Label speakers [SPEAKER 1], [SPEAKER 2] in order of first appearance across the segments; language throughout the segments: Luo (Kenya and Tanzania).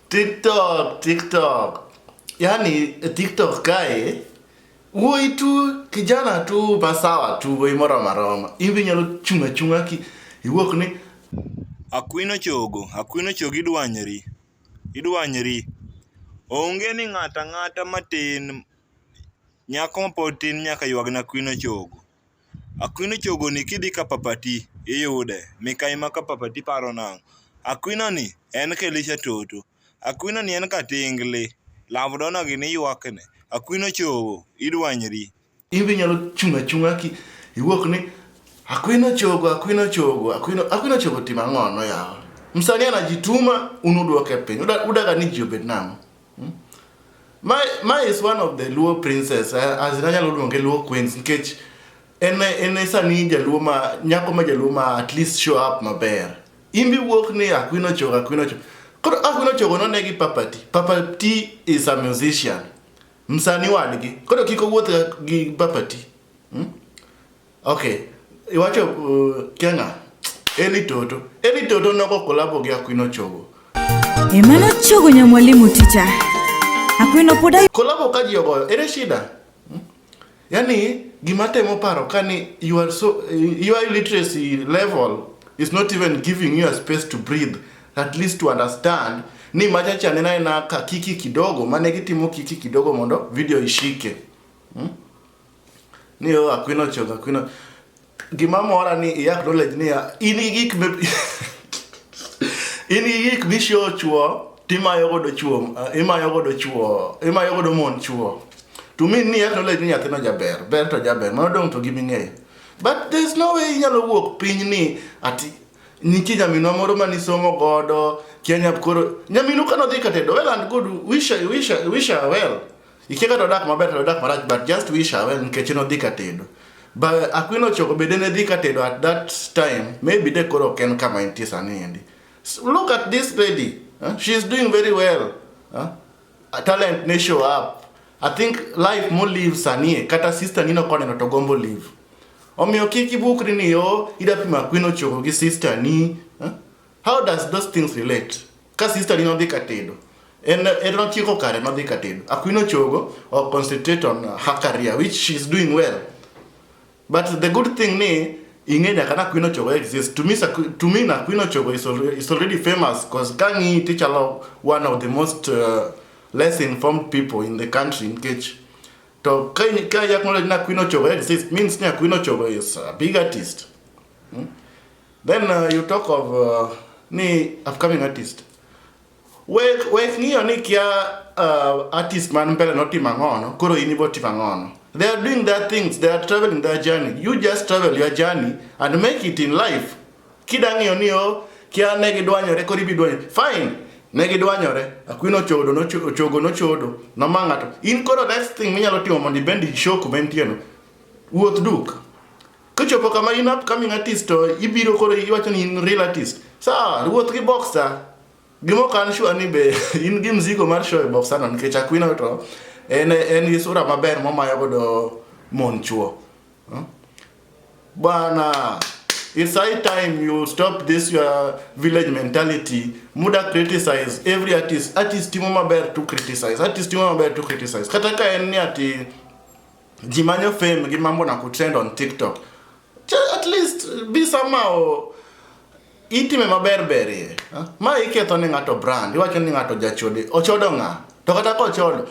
[SPEAKER 1] TikTok, TikTok. Yaani TikTok kae wuoi tu kijana tu basawa tu wuoi moro maroma. Ibi nyalo chunga chunga ki iwuok ni Akwino
[SPEAKER 2] chogo, akwino chogo idwanyri. Idwanyri. Onge ni ng'ata ng'ata matin Nyako ma pod tin nyaka ywag ne Akwino chogo. Akwino chogo ni kidhi ka papa ti iyude. Mikai ma ka papa ti paro nang'o. Akwino ni en ka Elisha toto. Akwino ni en ka tingli. Love dona gini ywak ne. Akwino chogo idwanyri. In be inyalo
[SPEAKER 1] chung' achung'a ki iwuok ni Akwino chogo, Akwino chogo, Akwino, Akwino chogo timo ang'ono yawa. Msanii anajituma un uduoke piny. Udaga ni ji obed nang'o? Hmm? My, my is one of the Luo princess, eh, as in anyalo luonge Luo queens nikech en en sani jaluo ma nyako ma jaluo ma at least show up maber. In bi wuok ni Akwino Chogo, Akwino Chogo. Koro Akwino Chogo none gi Papati. Papati is a musician. Msani wadgi. Koro kik owuoth gi Papati. Hmm? Okay. Iwacho uh, Kenya. Eli Toto. Eli Toto noko kolabo gi Akwino Chogo. Emano
[SPEAKER 3] Chogo nya mwalimu ticha. Akwino poda. Kolabo ka ji ogoyo.
[SPEAKER 1] Ere shida? Hmm? Yani gima temo paro kani you are so your illiteracy level is not even giving you a space to breathe at least to understand ni machacha nena ina ka kiki kidogo mane gitimo kiki kidogo mondo video ishike. Hmm? Ni yo akwino chok akwino. Gima mora ni i acknowledge ni ya, in gi gik me in gi gik misho chuo timayo godo chuo ah, imayo godo chuo imayo godo mon chuo to mean ni acknowledge ni nyathino jaber ber to jaber mano dong to giming'eyo but there's no way inyalo wuok piny ni ati nitie nyaminwa moro mane isomo godo kia nyap koro nyaminu kane odhi katedo well and good wish her- wish her- wish her well Ikia kata odak maber kata odak marach but just wish her well nikech en odhi ka tedo. But Akwino Chogo bende ne dhi ka tedo at that time maybe de koro ok en kama entie sani endi. S- Look at this lady. Huh? She is doing very well. Huh? A talent ne show up. I think life mo live sanie kata sister nino koneno to gombo live. Omiyo kik ibukri ni yo ida pima Akwino Chogo gi sister ni. Huh? How does those things relate? Ka sister ni nodhi ka tedo, en en notieko kare nodhi ka tedo. Akwino chogo or concentrate on her career which she is doing well. But the good thing ni ing'e nyaka na Akwino chogo exists. To me, Sakwi- to me na Akwino chogo is, al- is already famous because kang'i tichalo one of the most uh, less informed people in the country in Kech. To ka in- ka yakmolo ni Akwino chogo exists means ni Akwino chogo is a big artist. Then uh, you talk of uh, ni upcoming artist. Wek wek ng'iyo ni kia uh, artist man mbele no timo ang'o no, koro in ibo timo ang'o no. They are doing their things, they are traveling their journey. You just travel your journey and make it in life. Kida ng'iyo ni o kia ne gidwanyore koro ibi dwanyore. Fine. Ne gidwanyore, akwino chodo no chogo no chodo, no mangato. In koro next thing minyalo timo mondo ibend show kuma intieno. Wuoth duk. Kichopo kama in upcoming artist to ibiro koro iwacho ni in real artist. Sawa, ruoth gi boxer. Gimo kan sure ni be in gi mzigo mar show e boxer no nikech Aquino to en en gi sura maber momayo godo mon chuo. Hmm? Bwana, it's high time you stop this your village mentality. Muda criticize every artist. Artist timo maber to criticize. Artist timo maber to criticize. Kata ka en ni ati jimanyo fame gi mambo na kutrend on tiktok at least be somehow itime maber berie ma iketho ne ng'ato brand iwacho ni ng'ato jachode ochodo ng'a to kata kochodo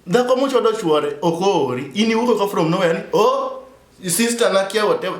[SPEAKER 1] dhako mochodo chuore ok oori in iwuok ka from nowhere ni oh sister na kia whatever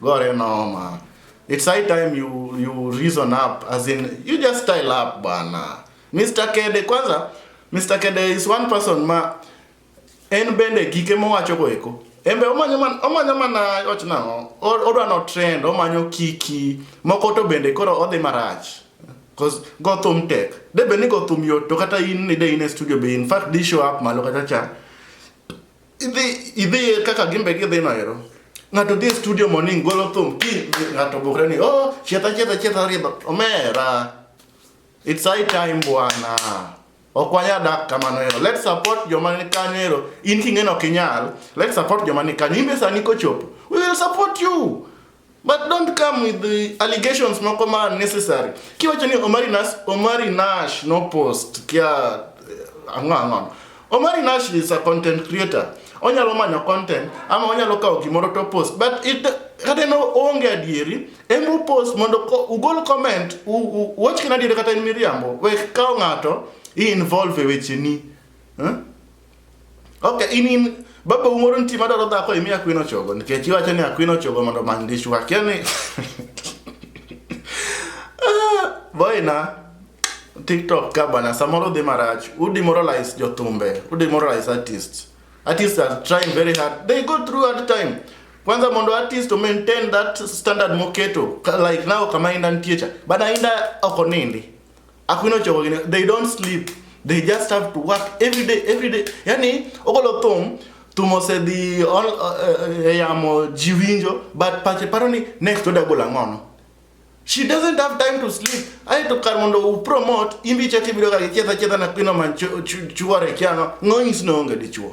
[SPEAKER 1] Gore noma. It's high time you you reason up as in you just style up bana. Mr. Kede kwanza Mr. Kede is one person ma en bende gike mowacho go eko. Embe omanyo man omanyo mana wach nang'o? Odwa no trend, omanyo kiki, moko to bende koro odhi marach. Cause go thum tech. De bende go thum yot to kata in ni de in e studio be in fact di show up malo kata cha. idhi idhi kaka gimbe gidhi no ero ng'ato dhi e studio morning golo thum ki ng'ato bukre ni oh chietha chietha chietha riba omera it's high time bwana ok wanya dak kamano ero let's support joma ni kanyo ero in king'eno kinyal let's support joma ni kanyo imbe sani kochopo we will support you But don't come with the allegations moko ma unnecessary. Kiwacho ni Omari Nash, Omari Nash no post kia eh, ang'o ang'o. Omari Nash is a content creator. Onyalo manyo content ama onyalo kawo gimoro to post but it kata en onge adieri en u post mondo ko- ugol comment u- u- uwach kina adieri kata en miriambo we kawo ng'ato i involve e wecheni. Eh? Okay, in in baba umoro nti madwaro dhako imi akwino chogo nikech iwacho ni akwino chogo mondo many dishwa kia ni Ah, boyna tiktok ka bana samoro dhi marach u demoralize jothumbe u demoralize artists artists are trying very hard they go through hard time kwanza mondo artist to maintain that standard moketo ka- like now kama inda ntie cha bana inda ok onindi Akuno chogo gine, they don't sleep. They just have to work every day, every day. Yani, ogolo thum, tumo se di ol, uh, uh, yamo jiwinjo, but pache paro ni next oda gola ngono. She doesn't have time to sleep. Aye to kar mondo u promote, imbi chati bidoga kicheta cheta na pino man chuware kiano, ngoyis no onge dichuo.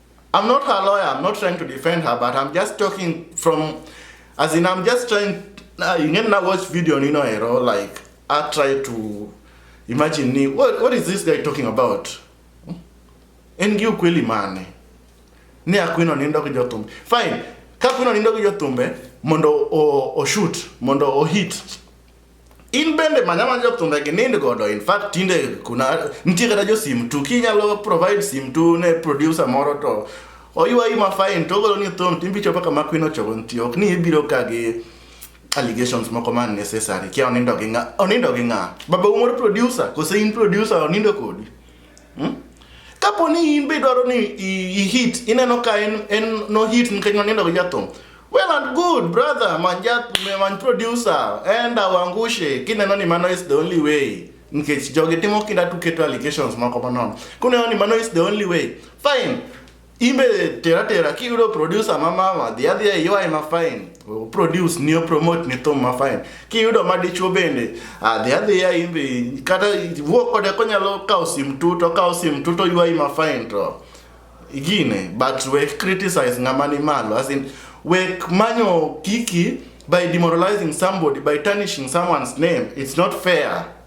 [SPEAKER 1] I'm not her lawyer. I'm not trying to defend her, but I'm just talking from, as in, I'm just trying. Uh, you can now watch video on Nino Hero. Like, I try to imagine me. What, what is this guy talking about? En gi ukweli mane? Ni akwino nindo gi jotumbe. Fine. Ka kwino nindo gi jotumbe mondo o, o shoot, mondo o hit. In bende manya manya jok thumbe gi nind godo. In fact tinde kuna nitie kata jo sim tu kinyalo provide sim tu ne producer moro to oywayi ma fine to ogolo ni thum timbi chopo kama kwin ochopo nitie ok ni ibiro ka gi allegations moko ma unnecessary kia onindo gi ng'a onindo gi ng'a baba umoro producer kose in producer onindo kodi Hmm? Kapo ni in be dwaro ni i hit, ineno ka en en no hit nikech nonindo gi jathum. Well and good brother, man jat man producer, enda wangushe kineno ni mano is the only way. Nikech jogi timo kinda tuketo allegations moko manono. Kuneno ni mano is the only way. Fine. imbe tera tera kiyudo producer ma mama dhi adhiya iywai ma fine produce ni promote ni thum ma fine kiyudo ma dichuo bende adhi adhiya imbe kata wuo kode konyalo kawo sim tu to kawo sim tu to ywai ma fine to igine but we criticize ng'ama ni malo as in we manyo kiki by demoralizing somebody by tarnishing someone's name it's not fair